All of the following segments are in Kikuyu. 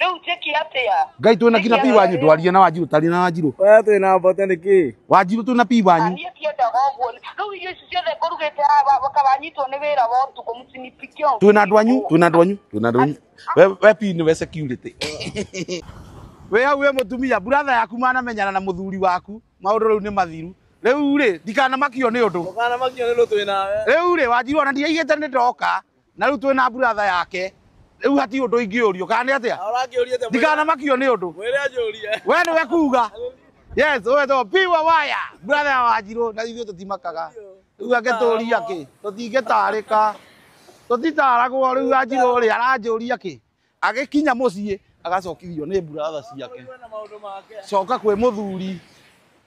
Rĩu njĩki atĩa? ngai twĩ na kina pi wanyu ndwarie na wanjirũ taria na wanjirũ Wewe twĩ na mbote nĩkĩ? wanjirũ twĩ na pi Na wanyu niĩ tiendaga ũguo. Rĩu irio ici ciothe ngũrugĩte haha wakawanyitwo nĩ wĩra wa ũtukũ msinipikie. twĩ na andũ anyu twĩ na andũ anyu twĩ na andũ anyu we we pi nĩ we security we hau we mũtumia buratha yaku manamenyana na mũthuri waku maũndũ rĩu nĩ mathiru rĩu rĩ ndikanamakio nĩ ũndũ Ũkanamakio nĩ ũndũ twĩ nawe. rĩu rĩ wanjirũ ona ndiaigĩte nĩ ndoka na riu twina buratha yake riu hati undu ingiurio kana ni atia ndikana makio ni undu we ni we kuga yes we to piwa waya buratha ya wanjiru na ithuĩ tũtimakaga riu angĩtũria ki tũtingĩtarĩka tũtitaragwo riu wanjiru ri aranjũria ki Agĩkinya mũciĩ agacokithio nĩ buratha ciake. Coka kwĩ mũthuri.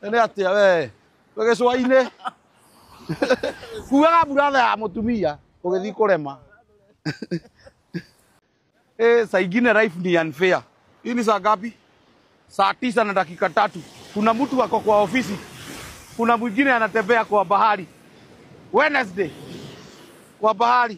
Nĩ atĩa we? Wĩ gĩcũa-inĩ. Kuaga buratha ya mũtumia ũgĩthiĩ kũrema. Eh, saa ingine life ni unfair. Hii ni saa ngapi? Saa tisa na dakika tatu. Kuna mtu ako kwa ofisi, kuna mwingine anatembea kwa bahari Wednesday kwa bahari.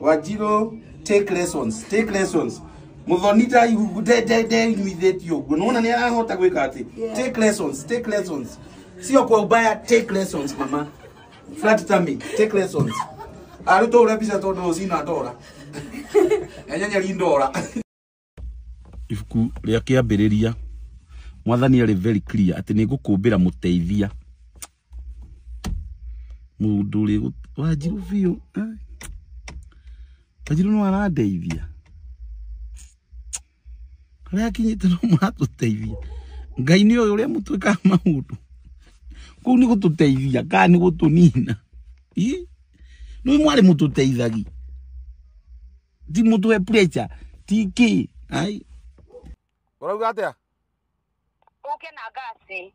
wanjirå take lessons take lessons muthoni tai hugu de de de nyuithĩtio ũguo nona nĩ arahota gwĩka atĩ Yeah. take lessons take lessons sio kwa ubaya take lessons mama flat tummy take lessons arutwo ũrĩa mbica tondũ ũcina ndora enyenyeri ndora ibuku rĩa kĩambĩrĩria mwathani arĩ very clear atĩ nĩ ngũkũmbĩra mũteithia mũndũ ũrĩ wanjiru biũ eh. wanjiru no arandeithia harĩa akinyĩte no maratũteithia ngai nĩ ũyũ ũrĩa mũtwĩkaga maũndũ kũu nĩ gũtũteithia kana nĩ gũtũnina Ih, nĩ mwarĩ mũtũteithagi ti mutu we pressure tiki ai urauga atia uke na gasi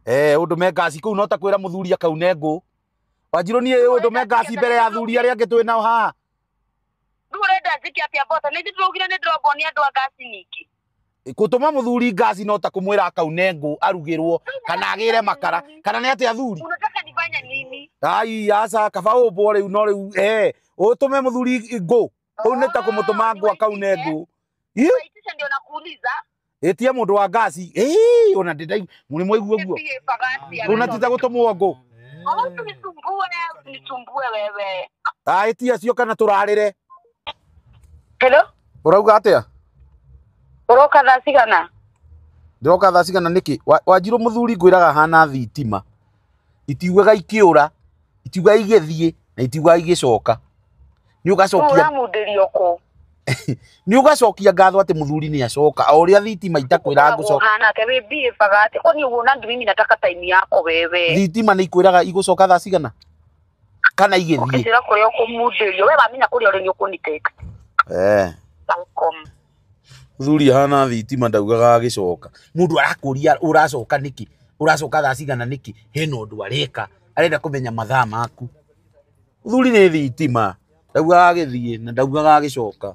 eh undu me ngasi kuu no ta kwira muthuri akaune ngũ wanjirũ niĩ undu me ngasi mbere ya athuri arĩa angĩ twĩ nao haha ndurenda njike atia mboco nä njä tå raugire nä ndä rombonia andå a ngasi ningä gutuma muthuri ngaci no ta kumwira akaune ngũ arugirwo kana agire makara kana ni ati athuri Unataka nifanye nini? ai aca kaba ũmbwo rĩu no rĩu eh ũtũme mũthuri ngũ ũu nĩ ta kũmũtũma ngũ akaune ngũ Ih, Waitisha ndio nakuuliza. ĩtie mũndũ wa ngaci Ih, ona ndĩndai mũrĩ mwaigua guo Nipigie pagasi ya Kuna mtoto. tita gũtũmwo ngũ Kama usinisumbue, usinisumbue wewe. Ah, ĩtie acio kana tũrarĩre Hello? Ũrauga atĩa? Ũroka thaa cigana? Ndĩroka thaa cigana nĩkĩ? Wanjirũ mũthuri ngwĩraga hana thitima. Itiugaga ikĩũra, itiugaga igĩthiĩ, na itiugaga igĩcoka. Nĩ ũgacokia... Ũramundĩrio kũ? Nĩ ũgacokia ngatho atĩ mũthuri nĩ acoka, o ũrĩa thitima itakwĩra ngũcoka. Hana atĩ wĩ mbie baga atĩ, kwani ũguo na ndimimi nataka time yako wewe. Thitima nĩ ikwĩraga igũcoka thaa cigana? kana igĩthiĩ ũkĩnjĩra kũrĩa ũkũmundĩrio we wamenya kũrĩa ũrĩ nĩ ũkũniteka Eh. Welcome. thuri hana thitima ndaugaga agĩcoka mũndũ arakũria ũracoka nĩkĩ ũracoka thaa cigana nĩkĩ hena ũndũ areka arenda kũmenya mathaa maku thuri nĩ thitima ndaugaga agĩthiĩ na ndaugaga agĩcoka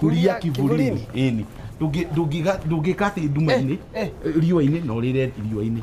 kuria kivulini ini ndungi ndungiga ndungika ati nduma-ini eh. riua-ini na urire riua-ini